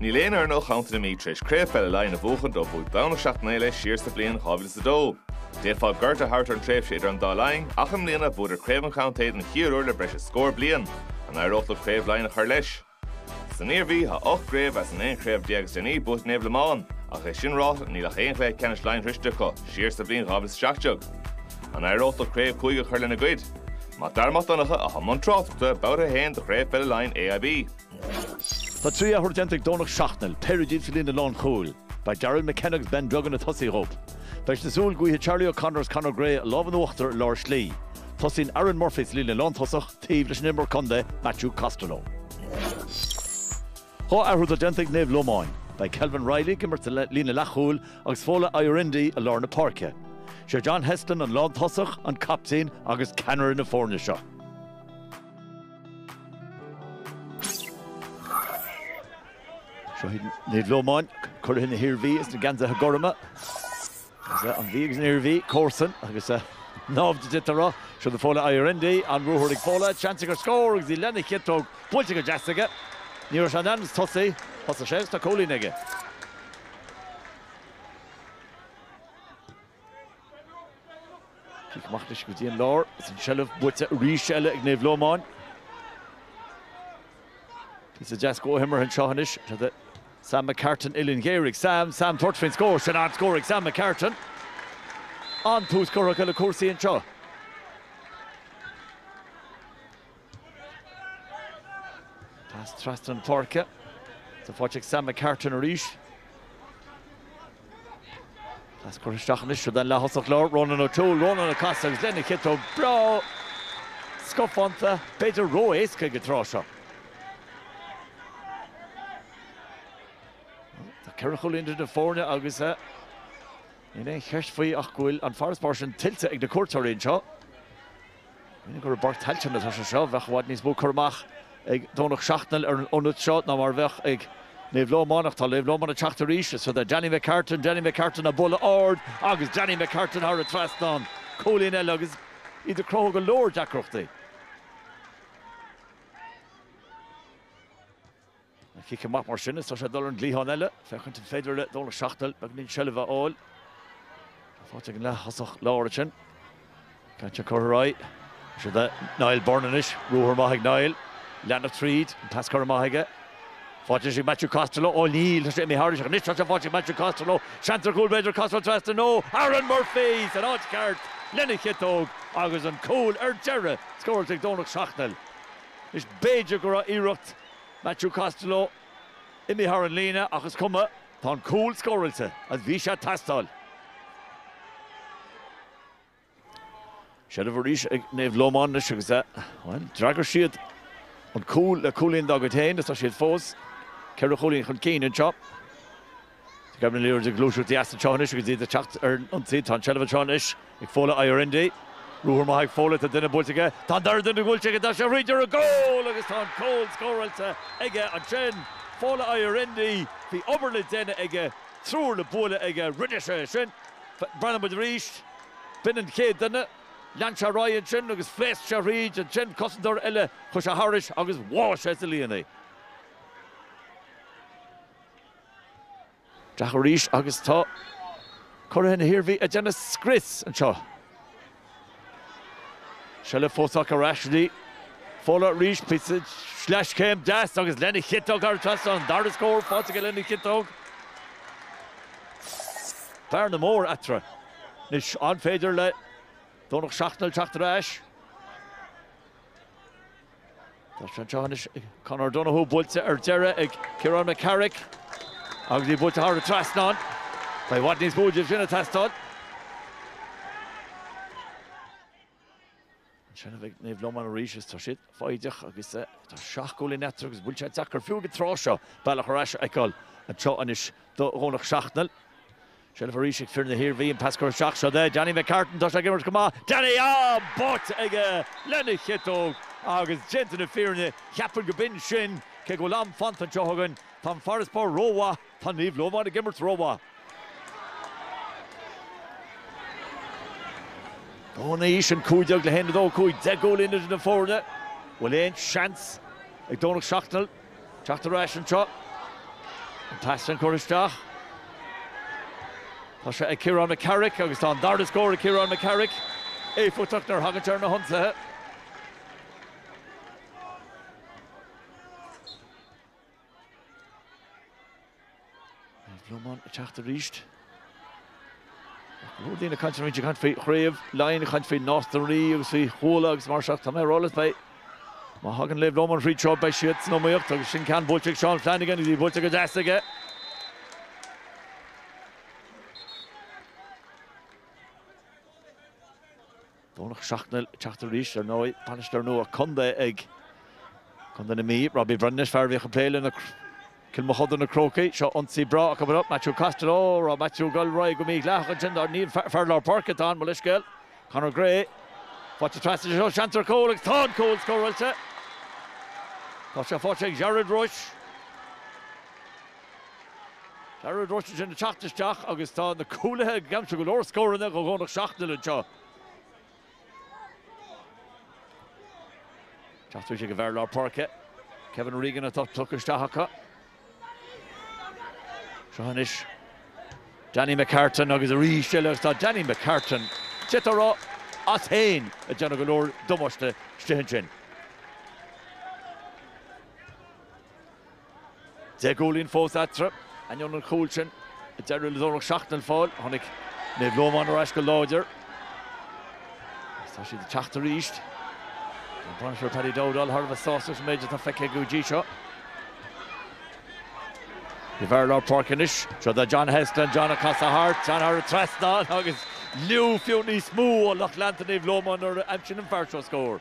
Níl aon fhoireann ó Chontae na Mí tar éis Craobh Peile Laighean a bhuachan ó bhuaigh Domhnach Seachnaill é siar sa bhliain 2002. D'fhéadfá gorta a thabhairt ar an tréimhse idir an dá linn ach i mbliana bhuadar Craobh an Chontae don chéad uair le breis is scór bliain, an éireoidh leo Craobh Laighean a chur leis? San Iarmhí thá ocht gcraobh as an aon chraobh déag is déanaí buaite ag Naomh Lomáin ach é sin ráite níl ach aon chluiche ceannais Laighean sroichte acu siar sa bhliain 2017. An éireoidh leo Craobh Chúige a chur lena gcuid? Mac Dara Mac Donncha athá i mbun tráchtaireachta babhta a haon de Chraobh Pheile Laighean AIB. Tá trí athrú déanta ag Domhnach Seachnaill, péire díobh sa líne lánchúil. Beidh Daryl McKenna agus Ben Duggan ag tosaí dhóibh. Beidh siad ag súil go bhfaighidh Charlie O'Connor agus Conor Gray an lámh in uachtar i lár slí. Tosaíonn Aaron Murphy sa líne lántosach taobh leis an imreoir contae Matthew Costello. Dhá athrú atá déanta ag Naomh Lomáin. Beidh Kelvin Reilly ag imirt sa líne leathchúil agus Fola Ayorinde i lár na páirce. Sé John Heslin an lántosach, an captaen agus ceannaire na foirne seo. Naomh Lomáin, curaidh na hIarmhí sna geansaithe gorma. Is é an Mhí agus an Iarmhí, comharsain agus naimhde tráth, siúd é Fola Ayorinde, an ruathar ag Fola, seans aige ar scór agus é lena chiotóg buailte go deas aige. Ní raibh sé in ainm is tosaí, thosaigh sé agus tá cúilín aige. Cic amach anois go dtí an lár is an seilbh buaite arís eile ag Naomh Lómáin. Píosa deas comhimeartha anseo anois do Sam McCartan uillinn ghéar ag Sam, Sam ag tabhairt faoin scór, sin an-scór ag Sam McCartan. An-tús curtha acu le cúrsaí anseo. Pas trasna an pháirce is faighte ag Sam McCartan arís. Pas curtha isteach anois don leath-thosach láir, Ronan O'Toole, Ronan ag casadh agus lena chiotóg breá scafánta, b'fhéidir ró-éasca ag an tráth seo. Tá ceithre chúilín idir na foirne agus níl aon cheist faoi ach go bhfuil an farasbarr sin tuillte ag na cuairteoirí anseo. Cuimhnigh gur i bPáirc Tailteann atá sé seo. Bheadh i bhfad níos mó cur amach ag Domhnach Seachnaill ar an ionad seo ná mar a bheadh ag Naomh Lómán. Ach tá Naomh Lómán ag teacht arís. Siúd é Danny McCartan, Danny McCartan, á bualadh ard agus Danny McCartan thar an trasnán. Cúilín eile agus iad ag cruthú go leor deacrachtaí. An cic amach mar sin is tá sé ag dul ar an gcliathán eile, féachaint an féidir le Domhnach Seachnaill beagáinín seilbhe a fháil. Tá faighte ag an leath-thosach láir ansin. Ceann sin curtha ar aghaidh. Seo é Niall Byrne anois, ruathar maith ag Niall. Leanacht tríd, an pas curtha amach aige. Faighte anois ag Matthew Costello, ó níl, tá sé imithe thairis ach anois tá sé faighte ag Matthew Costello. Seans ar chúl b'fhéidir, Costello trasnán, ó Aaron Murphy san áit cheart lena chiotóg agus an cúl ar deireadh scóráilte ag Domhnach Seachnaill. Anois b'fhéidir go raibh iarracht Matthew Costello imithe thar an líne ach is cuma, tá an cúl scóráilte agus bhí sé ag teastáil. Seilbh arís ag Naomh Lomán anois agus é, bhuel, d'fhreagair siad an cúl le cúilín dá gcuid féin agus tá siad fós ceithre chúilín chun cinn anseo. Gabhann an liathróid ag gluaiseacht go deas anseo anois agus iad ag teacht ar an ionsaí. Tá an tseilbh anseo anois ag Fola Ayorinde. Ruathar maith ag Fola, tá duine buailte aige, tá an dara duine buailte aige, tá sé thríd ar an gcúl agus tá an cúl scóráilte aige ansin. Fola Ayorinde, bhí obair le déanamh aige, triúr le bualadh aige, rinne sé é sin. Breathnóidh muid arís, b'in an chéad duine, lean sé ar aghaidh ansin agus phléasc sé thríd, ansin cosantóir eile, chuaigh sé thairis agus bháigh sé sa líon é. Teacht arís agus tá curaidh na hIarmhí ag déanamh scrios anseo. Seilbh fós acu ar ais go dtí Fola arís, píosa sleaschéim deas agus lena chiotóg thar an trasnán. An dara scór faighte aige lena chiotóg. Bearna mór eatarthu. Anois, an féidir le Domhnach Seachnaill teacht ar ais? Tá sé anseo anois ag Conor O'Donoghue, buailte ar deireadh ag Ciarán McCarrick agus í buailte thar an trasnán. Beidh i bhfad níos mó de sin ag teastáil. An tseilbh ag Naomh Lomáin arís agus tá siad foighdeach agus tá seacht gcúilín eatarthu agus bhuel tá sé deacair fiú ag an tráth seo bealach ar ais a fheiceáil anseo anois do Dhomhnach Seachnaill. Seilbh arís ag fir na hIarmhí, an pas curtha isteach, seo é Danny McCartan, tá sé ag imirt go maith, Danny, í báite aige lena chiotóg agus déanta na fírinne, cheapfainn go b'in sin, cé go bhfuil am fanta anseo againn, tá an farasbarr rómhaith, tá Naomh Lómáin ag imirt rómhaith. Tá anois, aon cúig déag le haon, a cúig, deich gcúilín idir na foirne, bhfuil aon seans ag Domhnach Seachnaill? Teacht ar ais anseo. An pas sin curtha isteach. Tá sé ag Ciarán McCarrick agus tá an dara scór ag Ciarán McCarrick. Éifeachtach nuair a thagann sé ar na hionsaithe. Naomh Lomán ag teacht arís. Ach roinnt daoine ag caint anois, ag caint faoi chraobh Laighean, ag caint faoi Nás na Rí agus faoi Chuala agus mar seo. Tá mé ag rá leat, beidh, má thagann Naomh Lomán tríothu, beidh siad san iomaíocht agus sin ceann buailte ag Seán Flanagan agus í buailte go deas aige. Domhnach Seachnaill ag teacht arís, ar ndóigh, bainisteoir nua an chontae ag contae na Mí. Robbie Bhreithnais, fear a bhíodh ag plé le Cill Mochuda Na Crócaigh. Seo ionsaí breá acu Matthew Costello. Raibh Matthew ag dul ró go mídhleathach ansin. Níl fear lár páirce atá ann, mo leithscéal. Conor Gray. Faighte trasna, seo seans ar chúl agus tá an cúl scóráilte. Tá sé faighte ag Jarrod Roche. Jarrod Roche ansin ag teacht isteach agus tá na cúlaithe ag aimsiú go leor scóranna do Dhomhnach Seachnaill anseo. Tá sé ag an bhfear lár páirce, Kevin Regan atá tugtha isteach acu. Seo anois Danny McCartan agus arís eile agus tá Danny McCartan taobh tíre as féin, ag déanamh go leor damáiste istigh ansin. Deich gcúilín fós eatarthu, ainneoin an chúil sin a d'éirigh le Domhnach Seachnaill a fháil. Tháinig Naomh Lómáin ar ais go láidir. Tá siad ag teacht arís. An bainisteoir Paddy Dowdall thar a bheith sásta leis an méid atá feicthe aige go dtí seo. An fear lár páirce anois, seo do John Heslin, John ag casadh thart, John thar an trasnán agus liú fiú níos mó ó lucht leanta Naomh Lómáin nuair a aimsíonn an fear seo scór.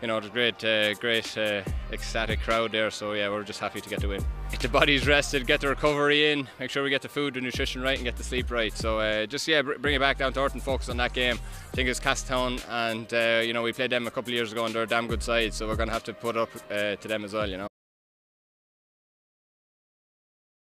you know it was great uh, great uh, ecstatic crowd there so yeah we're just happy to get the win get the bodies rested get the recovery in make sure we get the food and nutrition right and get the sleep right so uh, just yeah br bring it back down to earth and focus on that game I think it's Castown and uh, you know we played them a couple of years ago and they're a damn good side so we're gonna have to put up uh, to them as well you know